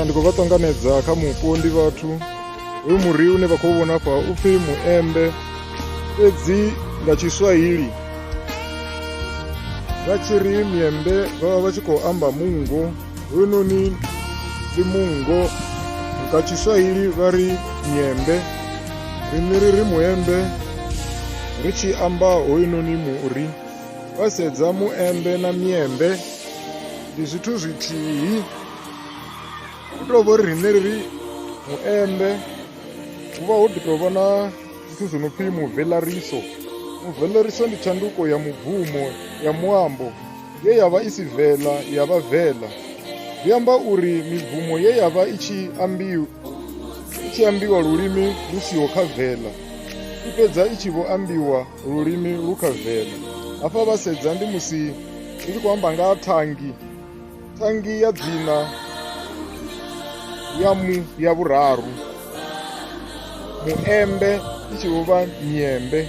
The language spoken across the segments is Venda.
ndi khou vha ṱanganedza kha mupo ndi vhathu hoyu muri une vha khou vhona fha u pfhi muembe fhedzi nga tshiswahili vha tshi ri miembe vha vha vha tshi khou amba mungo Hununi ndi mungo nga tshiswahili vha ri nyembe riṋe ri ri muembe ri tshi amba hoyunoni muri vha sedza muembe na miembe ndi zwithu zwithihi u tou vho ri riṋe ri ri muembe hu vha ho ḓi tou vha na zwithu zwi no pfhi muvelariso muvelariso ndi tshanduko ya mubvumo ya muambo ye ya vha i si vela ya vha vela zwi amba uri mibvumo ye ya vha i tshi ambiwa i tshi ambiwa lulimi lu siho kha vela i fhedza i tshi vho ambiwa lulimi lu kha vela hafha vha sedza ndi musi ndi tshi khou amba nga thangi thangi ya dzina ya mu ya vhuraru muembe i tshi vho vha miembe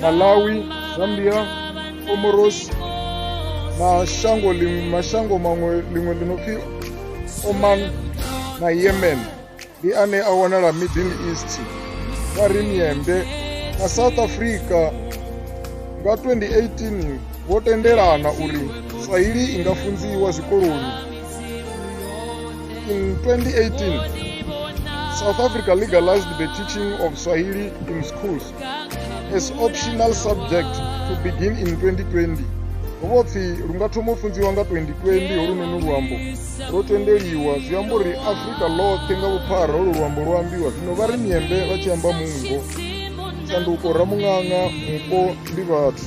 malawi zambia comoros na shango ling- mashango maṅwe ḽiṅwe ḽi no pfi oman na yemen ndi ane a wanala middle east vha ri miende na south africa nga 2018 vho tendelana uri swahili i nga funziwa zwikoloni in 2018 south africa legalized the teaching of swahili in schools as optional subject to begin in 2020 ho vho pfi lu nga thoma u funziwa nga 2020 holunoni luambo lwo tendeliwa zwi amba uri afrika ḽoṱhe nga vhuphara holu luambo lwo ambiwa zwino vha ri miembe vha tshi amba mungo tshanduko ramuṅaṅa mupo ndi vhathu